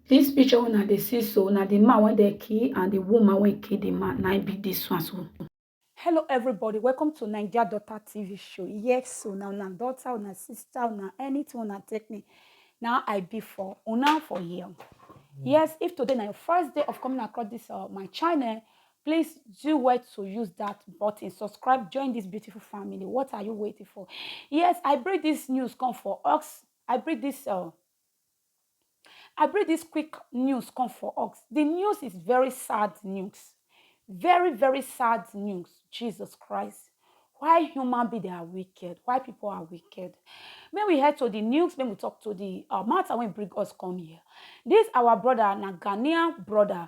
Dis picture wey una dey see so na the man wey dem kill and the woman wey kill the man na im be dis one so. Hello everybody, welcome to Naija Daughter TV show. Yes so na una daughter, una sister, una anything una take me, na I be for una for here. Yes, if today na your first day of coming across this uh, my channel, Please do well to use that button. Subscribe, join this beautiful family. What are you waiting for? Yes, I bring this news come for us. I bring this uh, I bring this quick news come for us. The news is very sad news. Very, very sad news. Jesus Christ. Why human beings are wicked? Why people are wicked? May we head to the news, may we talk to the uh, matter when bring us come here. This our brother, na Ghanaian brother,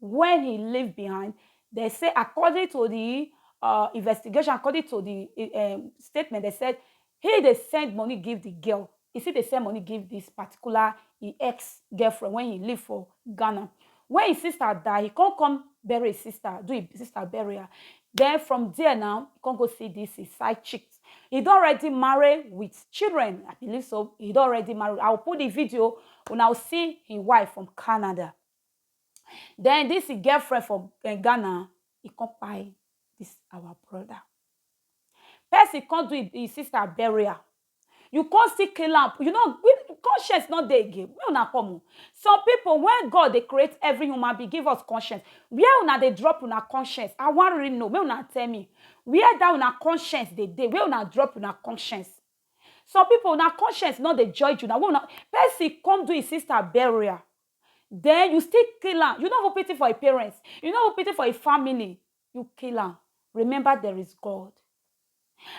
wey he leave behind, dem say according to the um investigation, according to the um statement, dem said he dey send money give the girl, he still dey send money give this particular him ex girlfriend wey he leave for Ghana. When him sister die, he come come bury him sister, do him sister burial. Then from there now, he come go see this his side chick. He don already marry with children, I believe so, he don already marry, I will put the video, una will see him wife from Canada. Then this him girlfriend for Ghana, he come kpai this our brother. Person come do him sister burial. You come still kill am. You know, conscience not there again. Where una come? Oh? Some people, when God they create every human being, give us conscience. Where una they drop una conscience? I want really know. Where una tell me? Where that una conscience they day? Where una drop una conscience? Some people, una conscience not they judge you. Now, when una person come do his sister burial, den you still kill am, you no even pity for e parents, you no even pity for e family, you kill am, remember there is God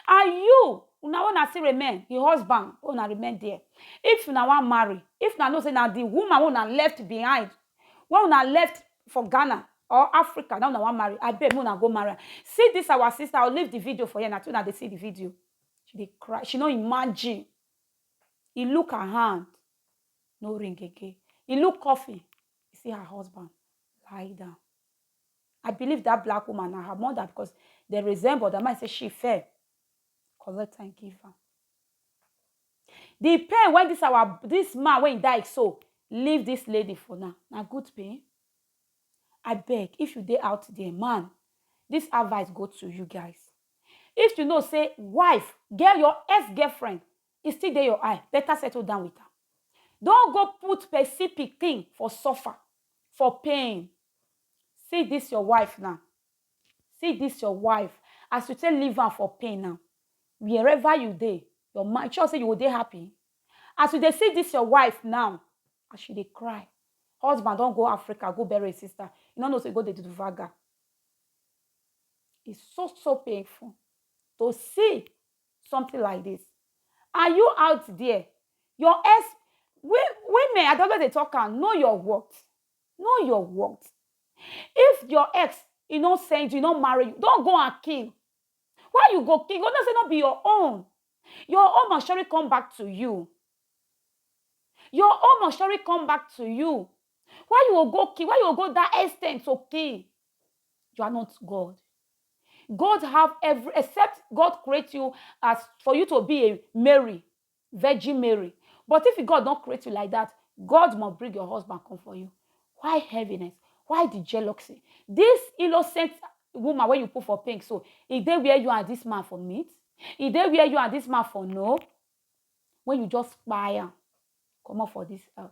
and you una wey una still remain, e husband wey una remain there, if una wan marry, if una know sey na di woman wey una left behind, wey una left for Ghana or Africa na im una wan marry, abeg make una go marry am, see dis our sister, I will leave di video for here, na una dey see di video, she dey cry, she no imagine, e look her hand, no ring again. He look coffin, he see her husband lie down. I believe that black woman na her mother because they resemble. That man say she fair. Collect and give her. The pain when this our this man when he died so leave this lady for now. Now good pain. I beg if you dey out there, man, this advice go to you guys. If you know say wife, girl, your ex girlfriend e still dey your eye, better settle down with am. Don go put person pikin for suffer, for pain. See this your wife now, see this your wife as you take leave am for pain now, wherever you dey, your mind, you sure say you go dey happy? As you dey see this your wife now, as she dey cry, husband don go Africa go bury his sister, you no know say you go dey do vaga. It's so so painful to see something like this are you out there your ex women i don't dey talk am know your worth know your worth if your ex e no send you e no marry you don go and kill why you go kill you go know say no be your own your own must surely come back to you your own must surely come back to you Why you go go kill? Why you go go that extent to kill? You are not God. God have every except God create you as for you to be a Mary, Virgin Mary. But if God don't create you like that, God must bring your husband come for you. Why heaviness? Why the jealousy? This innocent woman when you put for pink, so if they wear you and this man for meat, if they wear you and this man for no, when you just fire, come up for this earth.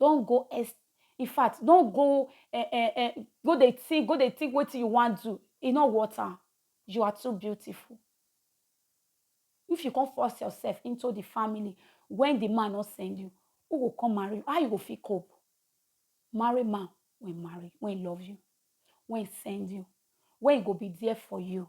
Don't go ex infact don't go eh eh eh go dey think go dey think wetin you wan do e no worth am you are too beautiful if you come force yourself into the family when the man no send you who go come marry you how you go fit cope marry man wey marry wey love you wey send you wey go be there for you